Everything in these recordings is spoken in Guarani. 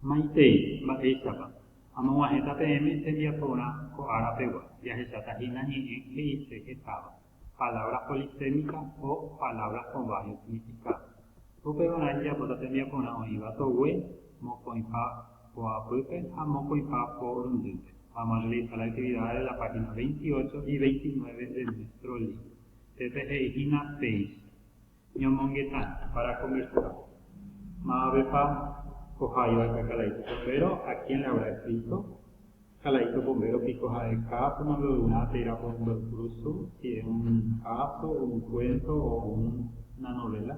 Maitei, mba'éichapa? Amog̃uahẽta peẽme tembiaporã ko ára pegua, jahecháta hína ñe'ẽ he'ise hetáva, palabras polisémicas o palabras con varios significados. Upevarã ijapóta tembiaporã oĩva togue, mokõipa po apýpe ha mokõipa po rundýpe. Vamos a realizar las actividades de la página 28 y 29 de nuestro libro. Pépe he'i hína péicha. Ñamongeta para convertirõ. Mavavépa ko ha'éva ka kalaíto pombéro? A quién le habrá escrito? Kalaíto pombéro piko ha'e káso nombeoivã tei rapónte oikrusu si es un káso, un kuénto o una novéla.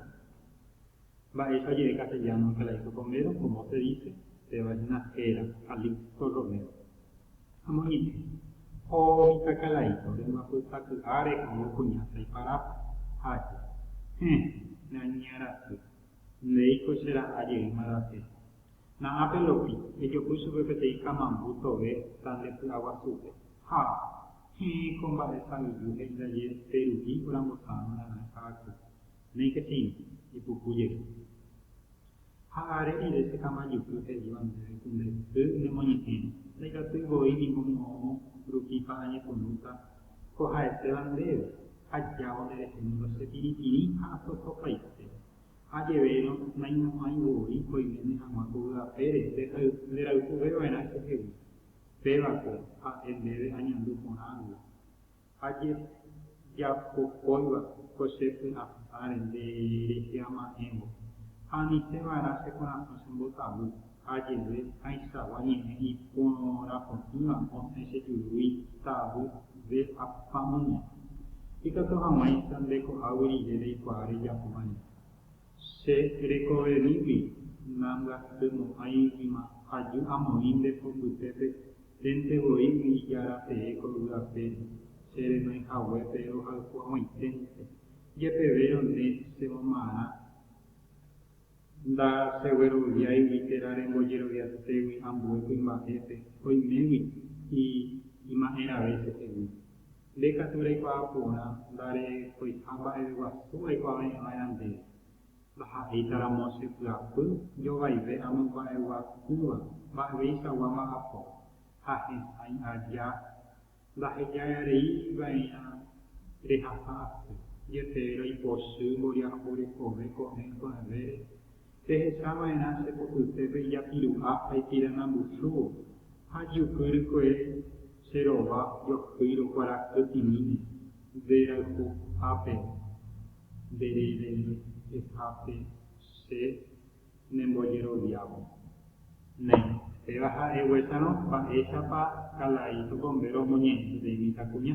Mba'éicha oje'e castelláno kalaíto pombéro? Komo se dise? Péva hína héra, Calixto Romero. Ha moĩve, ko mitãkalaíta orembapyta ky'áre oĩ kuña saiparápe, ha aja. Héẽ, ne añe'arasy, ndéiko che ra'a jeýma rasẽ. Na'ã pe lopi, ejopy chupe peteĩ kamambu tove tande py'aguasúpe. Ha, héẽ, ko mba'e sa'yju he'i ndaje pe ru'i orambosa'arõ ra'ã ka'aky. Néike cheirũ, ipuku jey. Ha are rire che kamajuky he'íva ndéve ku nde y nemoñe'ẽri, ndaikatúi voi ningo moõ rupípa añepyrũta ko ha'etéva ndéve, ha jávo nde rehe ningo che pirĩpirĩ ha asosopaite. Ha jevérõ naimo'ãi voi oiméne hag̃ua ko vy'apére nde rayhuve va'erã chehegui. Péva ko ha'e ndéve añandu porã gui. Ha jejapokóiva ko che py'apáre nde reheama'ẽvo, ha ani che va'erã che korasõ che mbotavy, ha jeve haichagua ñe'ẽ iporãpotỹva osẽ che jurúi tavyve apamíme. Ikatu hag̃uáicha nde ko'águi rire reikuaa rejapóva rire. Che rekoverĩgui nambyatymo'ãi yma aju amoĩnte ko mbytépe hénte voi y'ijára tee ko yvy apére, che renoĩ haguépe rohayhuag̃uaiténte, jepevérõ nde che momarã nda che gueroviáigui térã rembojeroviatégui ambue kuimba'épe oimégui y ima'ẽrave chehegui. Nde katu reikuaa porã ndareikoiha mba'eve guasu aikuave'ẽva'erã ndéve. Ndaha'éitaramo che pyapy jovaive amomba'eguasúva mba'eveichaguáma apo, ha hesãi aja ndahejareívaerã rehasa asy, jepe roipochy mboriahu rekove ko'ẽ pya'evére Pehecháva'erã che potýtepe ijapiruha ha ipiranambuchúvo, ha jyky rykue che rova johýi rokuarahy'imíne nde rayhuhápe, nde rerehehápe che nembojeroviávo. Néi, péva ha'eguesarõ, mba'éichapa Kalaíto Bombero omoñe'ẽ peteĩ mitãkuña?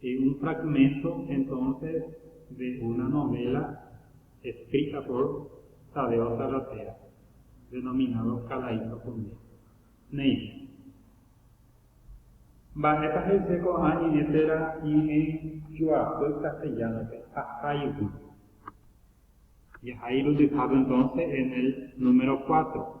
Y un fragmento entonces de una novela escrita por Tadeo Salvatierra, denominado Kalaito Pundépe. Néicha. Mba'épa he'ise ko'ã ñe'ẽ térã ñe'ẽ joapy castellano-pe, Jahaigui. Jahai irundyhápe entonces en el número cuatro.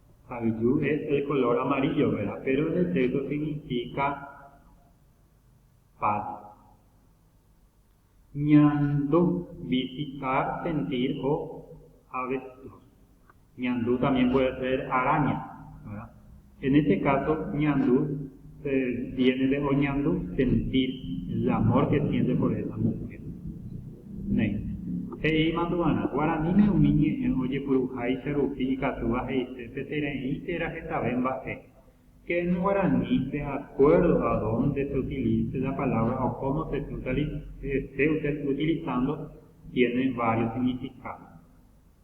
Ha yju es el color amarillo vera, pero en el texto significa paz. Ñandu, visitar, sentir o avestruz. Ñandu también puede ser araña, ¿verdad? En este caso, ñandu. Tiénente oñandu sentír el amór ke siente por esa muhér. Néi. He'i mandu'arã, Guaraníme umi ñe'ẽ ojepuruháicha rupi ikatúva he'ise petereĩ térã hetave mba'e. Ke en guarani, de acuerdo a donde se utilice la palabra o cómo se esté utilizando, tiene varios significados.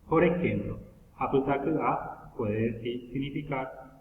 Por ejemplo, apytaky'a puede significar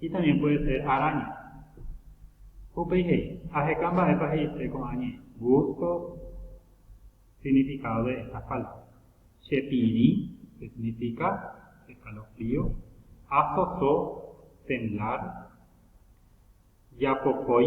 Y también puede ser araña. Upéi he'i, Aheka mba'épa he'ise ko'ã ñe'ẽ. Busco significado de estas palabras. Chepirĩ, que significa escalofrío, asoso, temblar, japokói,